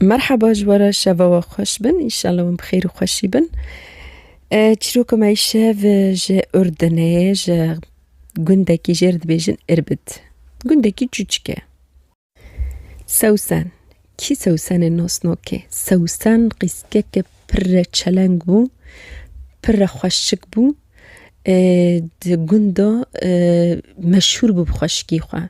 Merhaba ji we re şeva we xweş bin înşallah hûn bi xêr û xweşî bin. Çîroka me îşev ji Urdinê ji gundekî jê re dibêjin Îrbid. Gundekî çûçik e. Sewsen. Kî sewsenê nasnokê? Sewsen qîskeke pir re çeleng bû, pir re xweşik bû. Di gunda meşhûr bû bi xweşikî xwe.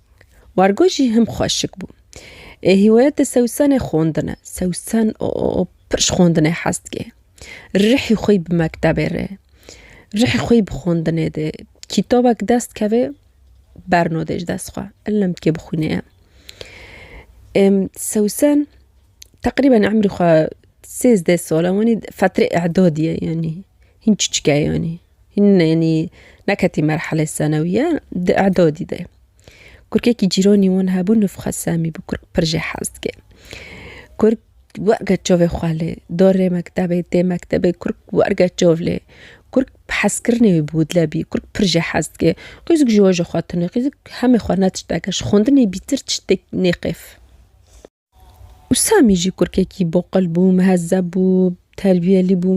Wargo jî him xweşik bû. Ê hîwayetê Sewsenê xwendine. Sewsen pir ji xwendinê hez dike. Rihî xwe yî bi mektebê re. Rihî xwe yî bi xwendinê de. Kîtabek dest dikeve berno dê ji dest xwe. Ilim dike bixwîne yan. Sewsen teqrîben emrî xwe sêzdeh sal e. Wanê fetrê edadî ye yanî. Hîn çiçik e yanî. Hîn yanî neketî merhelê senewiye di îdadî de. Kurkekî cîranî wan hebû nifxe Semî bi kurk pir jê hez dike. Kurk werge çavê xwe lê, da rê mektebê, tê mektebê kurk werge çav lê. Kurk bi hezkirinê wî bi widle bî. Kurk pir jê hez dike. Qîzik ji we jî xwe tune, qîzik hemê xwe ne tişteke ji xwendinê bîtir tiştek nêqêf. Û Samî jî kurkekî boqil bû, mihezeb bû, terbiyelî bû.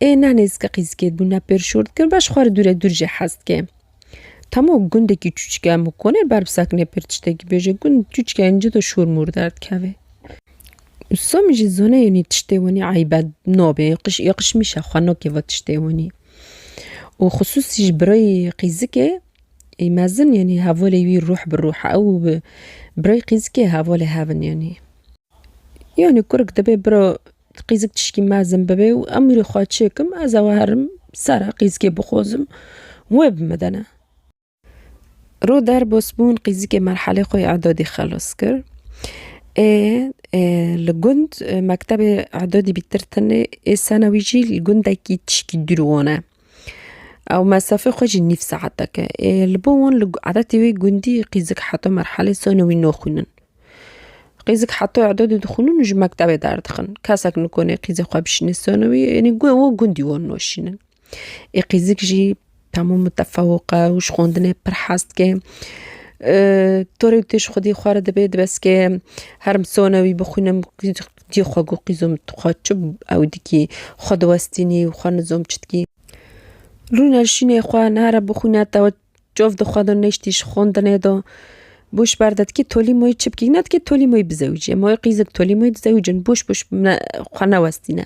Ê ne nêzikê qîzikê dibû, ne pêrşûr dikir, beş xwe re dûre dûr jî hez dike. Temo gundekî çûçike em konê ber bi sakinê pir tiştekî bêje. Gund çûçike ince de şûr mûr derdikeve. Û Samî jî zane yenî tiştê wenî eybe nabê, qişmîşe xwe nakeve tiştê wenî. Û xisûsî ji birayê qîzikê Ê mezin yanî hevalê wî ruh bi ruh e. Ew bi birayê qîzikê hevalê hev in yanî. Yanî kurik dibe bira qîzik tişkî mezin bibe û em wî xwe çêkim ez ew herim ser e qîzikê bixwazim wê bi min de ne. Rû derbas bûn qîzikê merhelê xwe yê edadî xelas kir. Ê li gund mektebê edadî bîtir tune ê sena wî jî li gundekî tişkî dûr wan e. Ew mesafê xwe jî nîv saet dike. Ê li bo wan li edetê wê gundî qîzik heta merhelê sona wî naxwînin. Qîzik heta edadê dixwînin û ji mektebê derdixin. Kesek nikane qîzê xwe bişîne sona wî yanî wan gundî wan naşînin. Ê qîzik jî temû mitefoq e û ji xwendinê pir hez dike. Torê û têj xwedî xwe re dibe dibe zikê herim sona wî bixwînim Dî xwe got qîzom tu xwe çi ew dikî, xwe diwestînî û xwe nizom çi dikî. Rûne şînê xwe niha re bixwîne te çav di xwe de nêştî ji xwendinê de boş ber de dikî tolî moyî çi bikî ne dikî tolî moyî bizewicî. Moyî qîzik tolî moyî dizewicin boş boş xwe newestîne.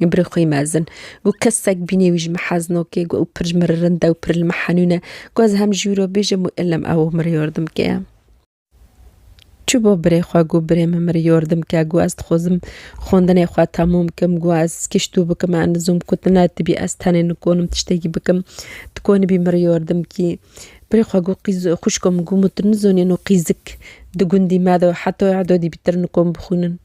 Birê xwe yî mezin. Got kesek bînê wî ji min hez nake, got ew pir ji min re rind e û pir li me henûn e. Got ez hem ji wî re bêjim û ilm ew min re yardim ke. Çû bo birê xwe got birê min min re yardim ke, got ez dixwazim xwendinê xwe temû bikim, got ez kiştu bikim e nizom ku tu ne tibî ez tenê nikonim tiştekî bikim. Tu konibî min re yardim kî. Birê xwe got qîz xwişko min got min tu nizanî ino qîzik di gundî me de heta îdadî bî tir nikom bixwînin.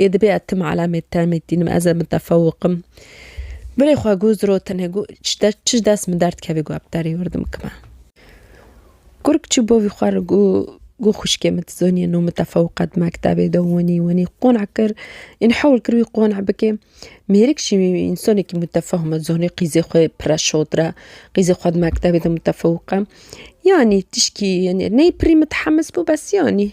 Ê dibê ez tim elamê te mê tînim ez ê mitefewik im. Gulê xwe gu ziro tenê gu çi dest min derd kevê gu eb derê wir dimikime. Kurg çi bovî xwe re gu gu xwişkê min tizonîye no mitefewik e di mektebê de wenî wenî qonex kir ên hewl kir wî qonex bike. Mêrik jî însanekî mitefewim e dizanê qîzê xwe pire şatir e qîzê xwe di mektebê de mitefewik e. Yanî tişkî ney pirî mitehemis bû bes yanî.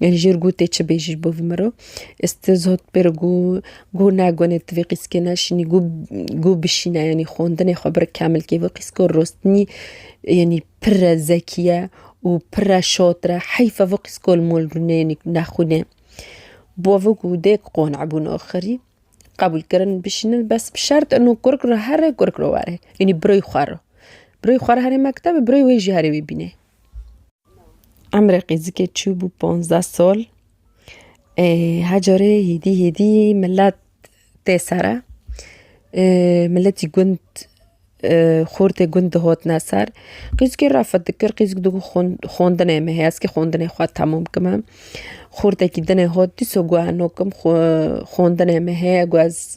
Ên jê rgo tê çi bêjî ji bo vî miro. Ez ti zot pê re go go ne go ne tu vê qîskê neşînî go go bişîne yanî xwendinê xwe biri kemil kê. Vê qîsko rostinî yanî pir re zekî ye û pir re şatir e. Heyf e vê qîsko li mal rûne yanî nexwîne. Bo vê ku dê ku qane bûn axirî qebûl kirin bişînin bes bi şert ino kurik re here kurik re were yanî birayê xwe re. Birayê xwe re here mektebê birayê wê jî herê wê bîne. Emre Qîzikê çûbû panzdeh sal. Hecarê hêdî hêdî milet tê ser e. Miletî gund xortê gund dihatine ser. Qîzikê refet dikir qîzik dibû xwendinê me hê ez kê xwendinê xwe temam bikime. Xortekî dinê hat dîsa guhernakim xwendinê me hê gu ez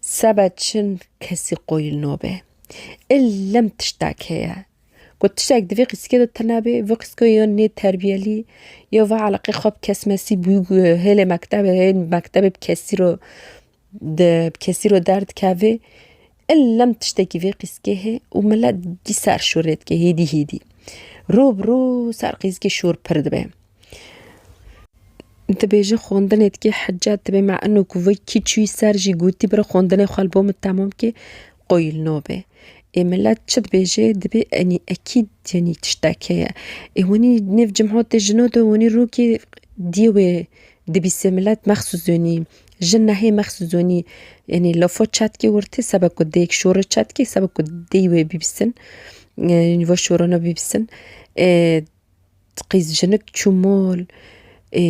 Sebe çin kesî qoyî nobe. Illem tiştek heye. Ku tiştek di vê qîskê de tune bê, vê qîsko yo nê terbiyelî, yo ve eleqê xwe bi kes mesî hêlê mektebê hê mektebê bi kesî ro di bi kesî ro derdikevê. Illem tiştekî vê qîskê hê û milet dî ser şûrê dike hêdî hêdî. Rû bi rû ser qîskê şûr pir dibe. Dibêje xwendinê dikê hicce dibê me eno ku vê kî çûyî ser jî gotî biro xwendinê xwe li bo min temam kê qoyil nabe. Ê milet çi dibêje dibê enî ekîd enî tiştek heye. Ê wenî nêv cumhatê jino de wenî rokê diyê wê dibîse milet mexsus enî jin nehê mexsus enî enî lafo çet kê wurtê sebe ku dê yek şoro çet kê sebe ku dê wê bibîsin. Enî va şorona bibîsin. Qîz jinik çû mol ê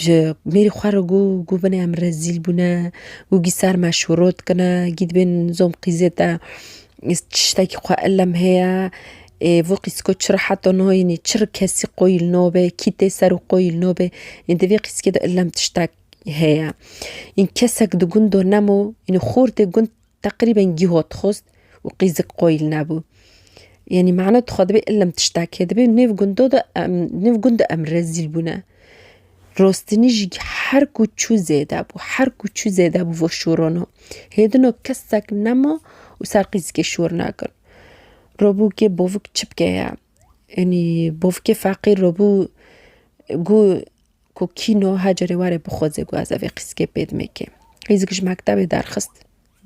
ji mêrî xwe re got, got binê em rezîl bûne, got gî ser me şûro dikine, gî dibên zom qîzê te tiştekî xwe elem heye, ê vû qîzko çi rehet dano înê çi ri kesî qoyîlno be, kî tê ser û qoyîlno be, ên di vê qîzkê de elem tiştek heye. Ên kesek di gundo nemo, înê xort ê gund Teqrîben gîho dixwist û qîzik qoyîl nebû. Yanî mane dixwe dibê illem tiştek hê. Dibê nêv gundo de em nêv gund de em rezîl bûne. Rostinî jî her ku çû zêde bû. Her ku çû zêde bû vo şûrono. Hêdino kesek nema û ser qîzikê şûr nekin. Robû kê bovik çi bike ya. Yanî bovikê feqîr robû got Ku kî no her carê ware bixweze ku ez evê qîzikê pê dimêke. Qîzik ji mektebê derxist,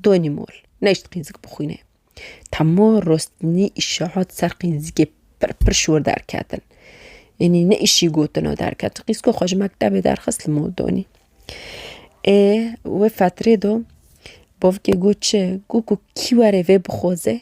donî mol. Neyşt qîzik bixwîne. Temo rostinî îşe hat ser qîzikê pir pir şor derketin. Enî ne îşî gotino derket. Qîziko xwe ji mektebê derxist li mol donî. Ê wê fetrê do bavkê got çi? Got ku kî were vê bixweze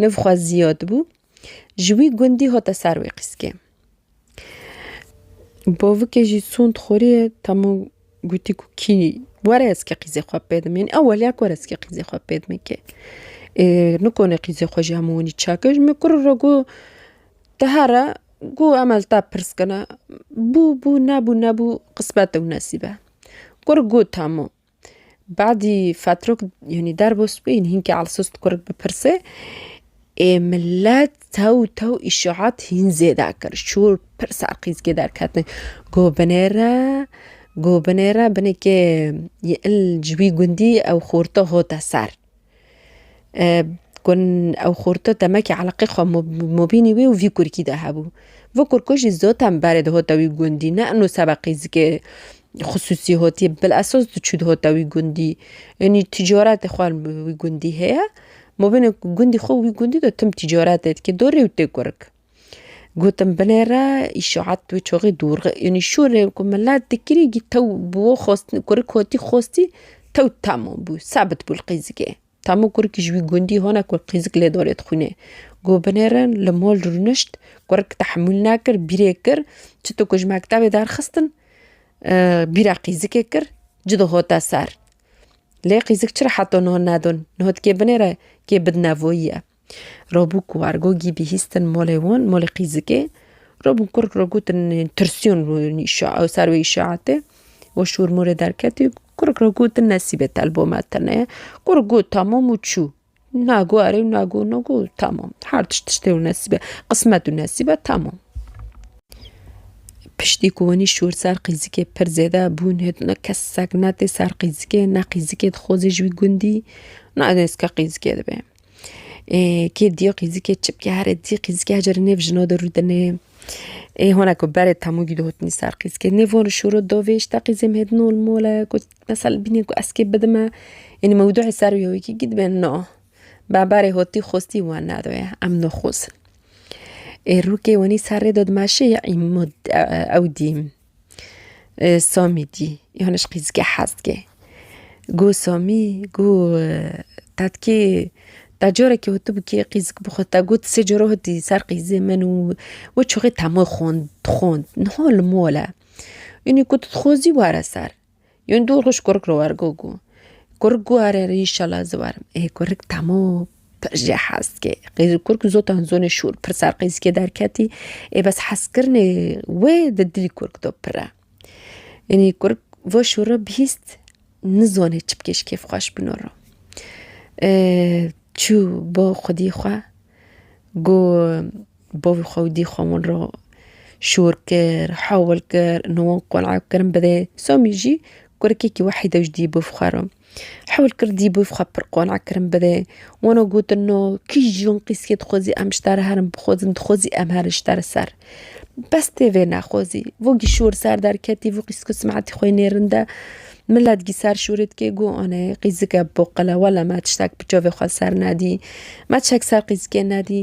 Niv xwe ziyad bû. Ji wî gundî hate ser wê qîskê. Bavikê jî sûnt xweriye temû gotî ku kî were ez kê qîzê xwe pê dimê. Yanî ewelyak were ez kê qîzê xwe pê dimê kê. Nikone qîzê xwe ji hemû winî çek e. Ji min kure re got te here got em ez te pirs kine. Bû bû nebû nebû qismete û nesîbe. Kur got temû. Badî fetrok yanî der bo spî in hînkî Alsos kurik bipirsê ê milet tew tew îşaet hîn zêde kir şûr pir serqîzkî derketin got binêre got binêre binêkê ji wî gundî ew xorta hate ser. Gon ew xorta demekî eleqê xwe mobînî wî û vî kurkî de hebû. Vî kurku jî zotan berê dihota wî gundî ne ino sebeqî zikê xisûsî hotiye bil esos diçû dihota wî gundî. Enî tîcaretê xwe li wî gundî heye. Mobînê gundî xwe wî gundî de tim tîcaretê dike dorê û tê kurik. Gotin binêre îşaet wê çaxê dûr xist yanî şûnê ku milet dikirî gî tew bi we xwestin kurik hatî xwestî tew temo bû sebit bû li qîzikê temo kurikî ji wî gundî hone ku qîzik lê darê dixwînê ku binêre li mal rûnişt kurik tehemûl nekir bîrê kir çito ku ji mektebê derxistin bîra qîzikê kir cida hate ser lê qîzik çira heta niha nedon niha dikê binêre kê bidine vo yî ye. Robû ku argogî bihîstin molê wan, molê qîzikê, robû kur re gotin tirsiyon îşa ser wê îşaetê û şûrmûrê derketî kurik re gotin nesîbe tel bo me tune ye. Kurik got tamam û çû. Na got erê û na got no got tamam. Her tişt tiştê û nesîbe qismet û nesîbe tamam. Piştî ku wenî şûr ser qîzikê pir zêde bûn hêt ne kesek ne tê ser qîzikê ne qîzikê dixwazê ji wî gundî ne êska qîzikê dibê. Kê diya qîzikê çi bike here diya qîzikê her carê nêv jina de rûdine. Ê hona ku berê temûgî de hotnî ser qîzikê nêv wan şûro dovê ji te qîzê min hêt nol mol e ku mesel bîne ku ez kê bidime ênî mewduê ser wî wekî gidibe na ba berê hotî xwestî wan nadoye em nexwazin. Ê rûkê wenî ser rê de dima şê î mud ew dî. Samî dî îhonij qîzge hez dike. Got Samî got te dikê te carekê hotibûkê qîzik bi xwe te got sê cara hotî ser qîzê min û wê çaxê te ma xwend xwend niha li mal e. Înê ku tu dixwazî were ser. Yon du roj kurik li war got ku kurik got are are înşallah ez ê warim. Ê kurik tamo pir jê hez dike. Qêz kurik zotan zonê şûr pir serqêzîkê derketî. Ê bes hezkirinê wê di dilî kurik de pir e. Yanî kurik va şûra bihîst nizane çi bike ji kêfxweş bûna re. Çû bo xwediyê xwe got Bavê xwe û dî xwe wan re şor kir, hewil kir, û wan qen'e kirin bidê. Samî jî kurekekî wahîd e ji dî bavê xwe re. Hewil kir dî bavê xwe pir qen'e kirin bidê. Wana gotin na kî ji wan qîskê dixwazî em ji te re herin bixwazin, dixwazî em herin ji te re ser. Bes tê vê nexwazî. Vogî şor ser derketî, vî qîsk û simetî xwe yê nêrin de. Milet gî ser şorê dikê got anê qîzike baqile wele me tiştek bi çavê xwe ser nedî. Me tiştek ser qîzikê nedî.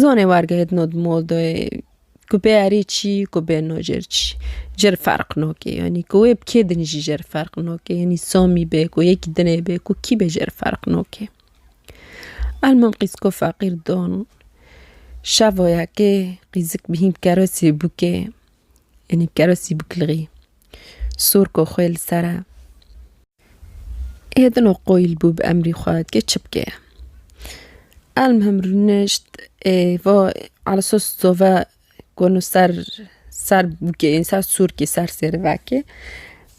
Zonê wergehê dino di Moldoyê ku bê erî çî ku bê no jêr çî jêr ferq nake yanî ku wê bi kê dinijî jêr ferq nake yanî somî bê ku yekî dinê bê ku kî bê jêr ferq nake. El min qîz ku feqîr don şevo yekê qîzik bi hîn kerosî bûkê yanî kerosî bûklixî sûr ku xwe li ser e. Yê din o qoyîl bû bi emrî xwe ke çi bike. Elmihim rûnişt ê va Elesos zove gonu ser ser bûkê yên ser sûrkê ser sêri vekê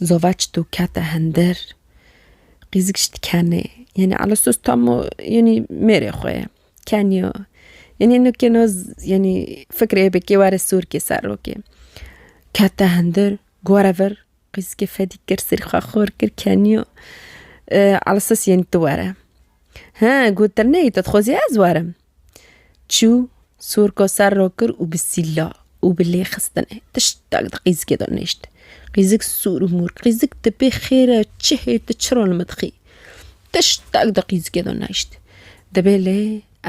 zove çito kete hindir qîzik ji dikenê yenê Elesos tamo yenî mêrê xwe ye keniya yenê no keno yenî fikrê bikê were sûrkê serokê kete hindir gore vir Qîzikê fedî kir, serî xwe xor kir, keniya Elses yên tu were. He, gotin neyê te, dixwazî ez werim? Çû, sorka ser re kir û bi sîla û bi lêxistinê tiştek di qîzikê de nişt. Qîzik sor û mor, qîzik te pê xêr e, çi hê tu çira li min dixî? Tiştek di qîzikê de nişt. Dibê lê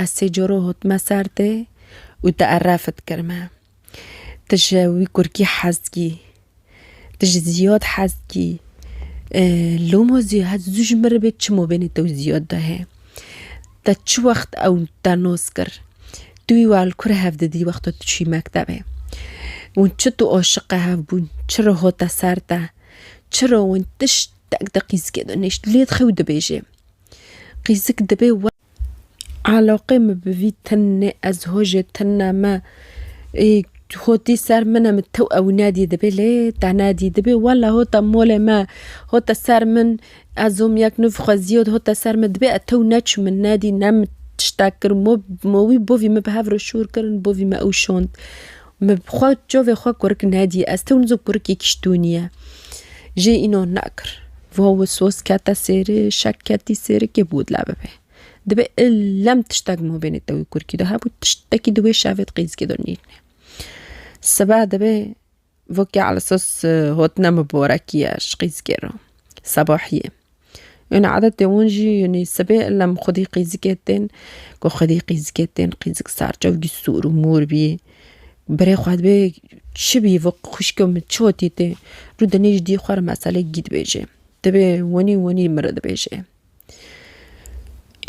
ez sê cara hatime ser te û te erefit kirime. Tu ji wî kurkî hez dikî. Tu ji ziyad hez dikî. Loma ziyad zû ji min re bê çima bênê te wî ziyad de hê. Te çi wext ew te nas kir? Tu wî wa li ku re hev didî wexta tu çûyî mektebê? Wan çi tu aşiqe hev bûn? Çi re hate ser te? Çi re wan tiştek di qîzikê de nêşt lê dixê û dibêjê. Qîzik dibê wek. Aloqê min bi vî tenê ez hojê tena me hotî ser min e min tew ew nedî dibê lê te nedî dibê wela hota molê me hota ser min ez zom yek nûv xwezîyo hota ser min dibê etew neçû min nedî ne min tiştek kir mo wî bo vî min bi hev re şûr kirin bo vî me ew şand Me bi xwe çavê xwe kurik nedî. Ez tewni zû kurikî kiştûniye. Jê înan nekir. Va wi sos kete sêri, şek ketî sêri kê bi wi dile bibe. Dibe illem tiştek mabênê te wî kurikî de hebû tiştekî di wê şevê di qîzikê de nîrnê. Sibeh dibe vokê Elisos hotine mibarekî ye ji qîzikê re. Sebahiyê. Yanî adetê wan jî yanî sibê lem xwedî qîzikê tên ku xwedî qîzikê tên qîzik sar çewkî sûr û mor bî birê xwe dibê çi bî vuk xwişka min çi wetî tê rû dinê ji dî xwe re meselê gî dibêje dibê wenî wenî min re dibêje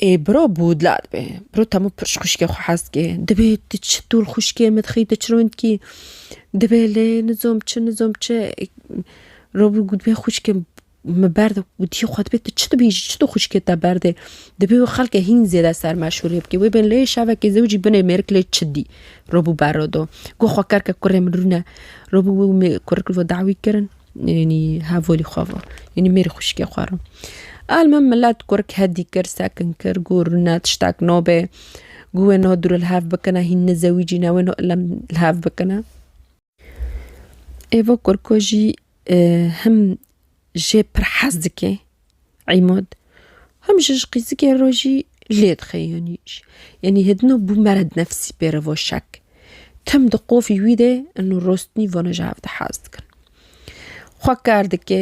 ê biro bûdla dibê biro temû pir ji xwişkê xwe hez bikê dibê tu çitûr xwişkê min dixî tu çi rindkî dibê lê nizom çi nizom çi rû dibê xwişkê min Me berde û dî xwe dibê tu çi dibî ji çi dixwişkê te berdê. Dibê wê xelkê hîn zêde ser me şûrê bikê. Wê bên lê şevekê zewcî binê mêrik lê çi dî. Robû berro do. Go xwe ker ke kurê min rûne. Robû wê û mê kurik li vo dawî kirin. Yanî hevolî xwe vo. Yanî mêrî xwişkê xwe ro. Al min milet kurik hedî kir sekin kir go rûne tiştek nabê. Go wê no dûre li hev bikine hîn nizewîcîne wê no ilem li hev bikine. Evo kurko jî him jê pir hez dike îmad him ji ji qîzikê re jî lê dixe yanî yanî hêdino bû merad nefsî pê re vo şek tim di qofî wî de rostinî vana ji hev de hez dikin xwe kar dike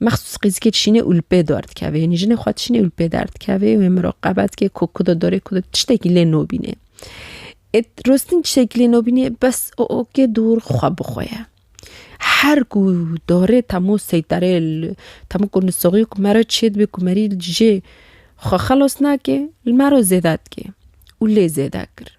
Mexsûs qîzikê dişîne û li pê dor dikeve. Yanî jinê xwe dişîne û li pê derdikeve wê miroqebet ke ku ku de dorê ku de tiştekî lê nobînê. Ê rostin tiştekî lê nobînê bes o okê dûr xwe bi xwe ye. Her ku dorê temû seytarê li temû ku nisoxî ku me re çê dibe ku merî jê xwe xelos nake li me re zêde dike û lê zêde kir.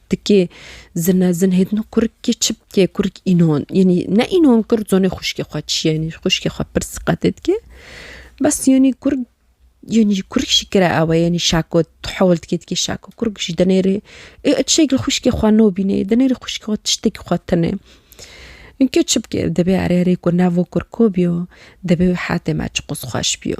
Tikê zine zin hêdino kurikê çi bikê kurik înon yenî ne înon kir zonê xuşkê xwe çi yenî xuşkê xwe pirs qetê dike bes yenî kurik yenî kurik jî kire ewe yenî şako hewil dike dikê şako kurik jî dinêrê ê tişek li xuşkê xwe nobînê dinêrê xuşkê xwe tiştek xwe tine înke çi bike divê erê erê ku nevo kurko bîyo divê hatê me çiqas xweş bîyo.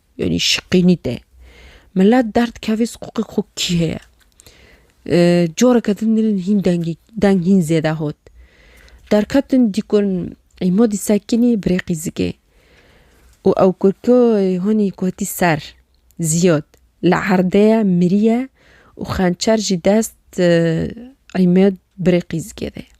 Yanî şiqînî te. Mela derd kevê siqûqê xwe kî heye. Careke din dilin hîn dengî deng hîn zêde hot. Derketin dîkun îmodî sekinî birêqî zikê. Û ew kurku hanî kotî ser ziyad li erde ye miriye û xençer jî dest îmed birêqî zikê de ye.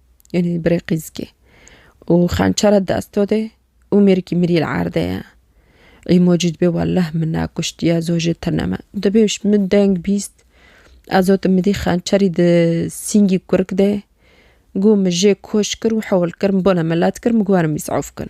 yanî birê qîzikê û xençera desto de û mêrikî mirî li erde ye. Î mocî dibê welleh min nekuştiye zo jê tune me. Dibê min deng bîst ez zotim midî xençerî di sîngî kurik de got min jê koş kir û hewil kir min bona milet kir min got were mîs'of kin.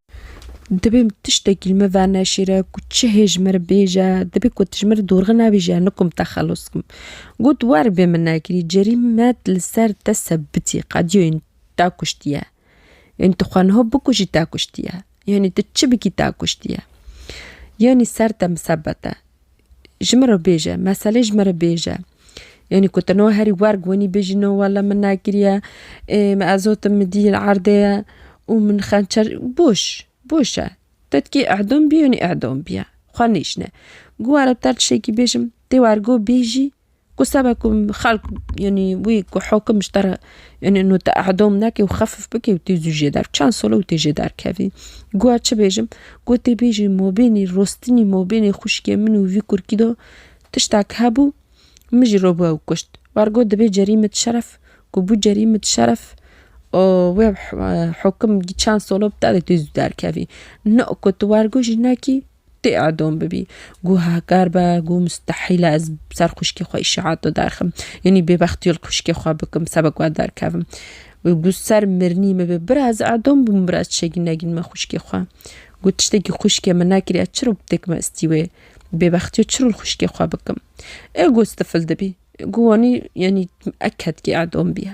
Dibê min tiştekî li min verneşêre ku çihê ji min re bêje, dibê ku tu ji min re dorxe nabî ji henikum texelos bikim. Got wer bê min nekirî cerî me li ser te sebitî qediya in te kuştiye. In tu xwe niha bikujî te kuştiye. Yanî tu çi bikî te kuştiye. Yanî ser te misebete. ji min re bêje, meselê ji min re bêje. Yanî ku tu no herî werg wenî bêjî no wele min nekiriye, ê ez zotim min dî li erdê ye û min xençer boş, boş e. Tetkî edom bî yanî edom bîye xwe nêşine. Gu were bi te re tiştekî bêjim, tê wergo bêjî. ku seba ku xelk yanî wî ku hekim ji te re yanî no te edom neke û xefif bike û tê zû jê der çend sala û tê jê derkevî guha çi bêjim got tê bêjî mobînî rostinî mobînê xwişkê min û vî kurkî de tiştek hebû min jî re bû ew kuşt war got dibê cerî min şeref ku bû cerî min şeref û wê hekim çend sala bide tê zû derkevî ne ku tu wergoji nekî Tê edom bibî. Gû hekar be, gû mustehîl e ez bi ser xwişkê xwe îşeat de derxim. Yanî bêbextî li xwişkê xwe bikim sebek we derkevim. Gû ser mirinî min be. Bira ez edom bûm bira ez çêgî negîn me xwişkê xwe. Gû tiştekî xwişkê min nekiriye çiro bi têk me istî wê. Bêbextîyo çiro li xwişkê xwe bikim. Ê gû stifil dibî. Gû wanî yanî eke dikê edom bîye.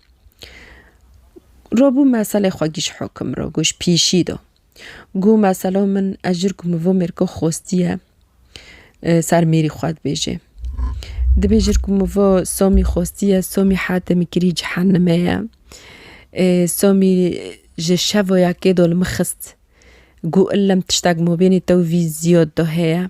Ro bû meselê xwe gîj hokim ro goş pîşî do. Got meselo min ez jir ku min vo mêrgo xostiye ser mêrî xwe dibêjê. Dibê jir ku min vo somî xostiye somî hate min kirî cehenime ye. Somî ji şevoya kê do li min xist. Got illem tiştek mabênê te û vî ziyad do heye.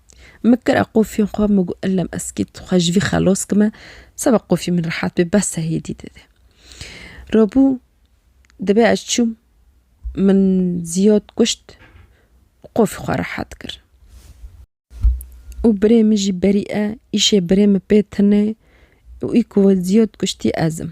Min kir eqofiyên xwe, min got Ellem eskî tu xwe ji vî xelos kime, seba eqofî min rehat bê bes e hêdî dide. Rabû dibê ez çûm min ziyad kuşt û qofî xwe rehat kir. Û birê min jî berî e, îşê birê min pê tune û î ku ziyad kuştî ez im.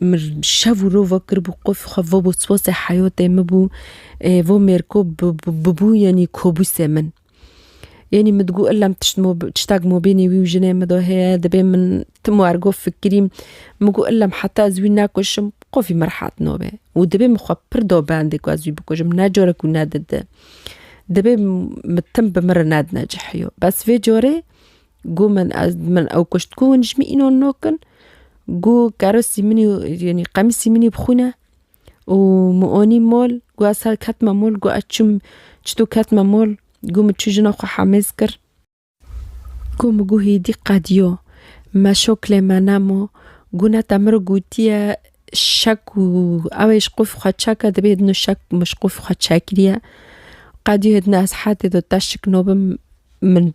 Min şev û rov vekiribû quf xwe vo bosbosê heyotê min bû vo mêrko bûbû yenî kobûsê min. Yenî min digû illem tişt tiştek mobînê wî û jinê min de heye dibê min tim û ergo fikirîm. Min got illem heta ez wî nekuşim qufî min rehet nabe û dibê min xwe pir da bendê ku ez wî bikujim ne carek û ne di di. Dibê min tim bi min re nedine cihê yo. Bes vê carê. Gu min ez min ew kuşt ku hûn ji min îno nokin gu kerosî min û yanî qemîsî min ê bi xwîne û min onî mol gu ez her ketime mol gu ez çûm çitû ketime mol gu min çû jina xwe hemêz kir gu min gu hêdî qediyo me şoklê me nemo gu ne te min gotiye şek û ew ê ji qof xwe çeke dibê hêdin û şek min ji qof xwe çekiriye qediyo hêdin ez hetê de te şikno bim min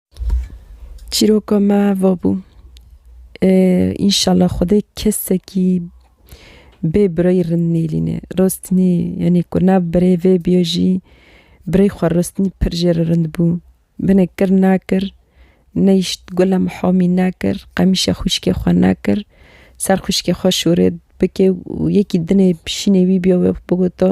Çîroka me heva bû. Înşala Xwedê kesekî bê birayî rind nêlîne. Rastînî yanî ku nav birê vê biya jî birê xwe rastînî pir jê re rind bû. Binê kir nakir, neyişt gula mihamî nekir, qemîşa xwîşkê xwe nekir, ser xwîşkê xwe şûrê bike û yekî dinê şînê wî biya wê bigot a.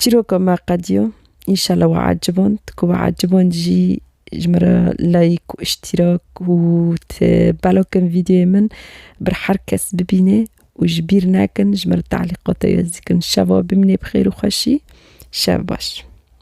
Çîroka me qediya înşela we eciband ku we eciband jî ji min re layîk û îştîrak û ti belakin vîdyoyê min bir her kes bibîne û ji bîr nekin ji min re telîqat ez dikin şeva bimîne bi xêr û xweşî şev baş.